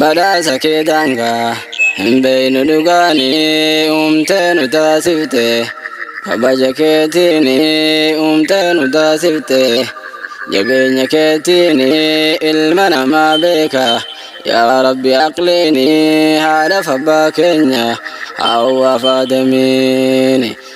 Badhaasa kee daangaa hin beeynu dhugaanii uumtee nu taasifte kabaja keetiin uumtee nu taasifte jabeenya keetiin ilma namaa beeka yaa rabbi aqliin haadhaaf abbaa keenya haawwaaf aadamiin.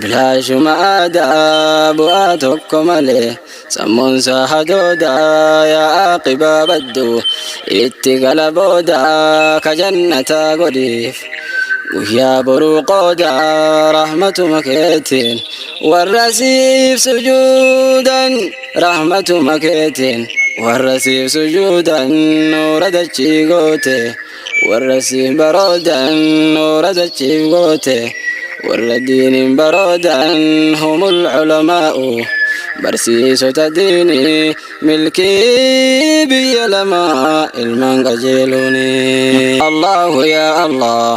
Bilaashuma aadaa bu'aa tokko malee sammuun isaa hadoodaa yaa aqibaa baddu itti gala boodaa ka jannataa godhiif guyyaa boruu qoodaa rahmatuma keetiin warra siif sujuudan rahmatuma keetiin warra siif sujuudan nuura dachii goote. Warra siif baroodan nuura dachiif goote warra diiniin baroodan humul culamaa'u barsiisota diinii milkii biyya lamaa ilmaan qajeeluuni Allahu yaa Allah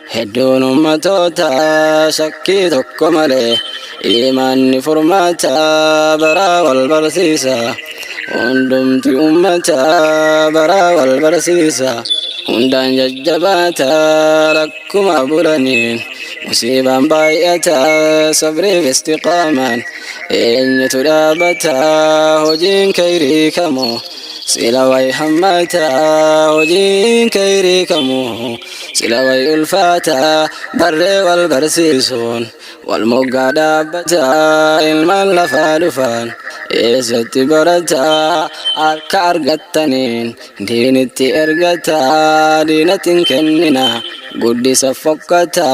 Hedduun ummatoota shakkii tokko malee imaanni furmaata baraa wal barsiisa. Hundumti ummata baraa wal barsiisa. Hundaan jajjabaata rakkuma bulaniin musiibaan baay'ata sabriif istiqaamaan eenyutu dhaabata hojiin kayrii kamu sila way hammaata hojiin kayrii kamu. Sila way ulfaata barree wal barsiisuun wal moggaa dhaabbata ilmaan lafaa dhufaan eessatti barata harka argattaniin diinitti ergata diinatiin kennina guddisa fokkata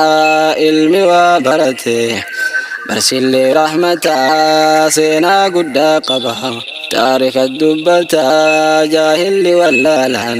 ilmi waa barate barsillee rahmata seenaa guddaa qaba taarika dubbata jaahilli wallaalaan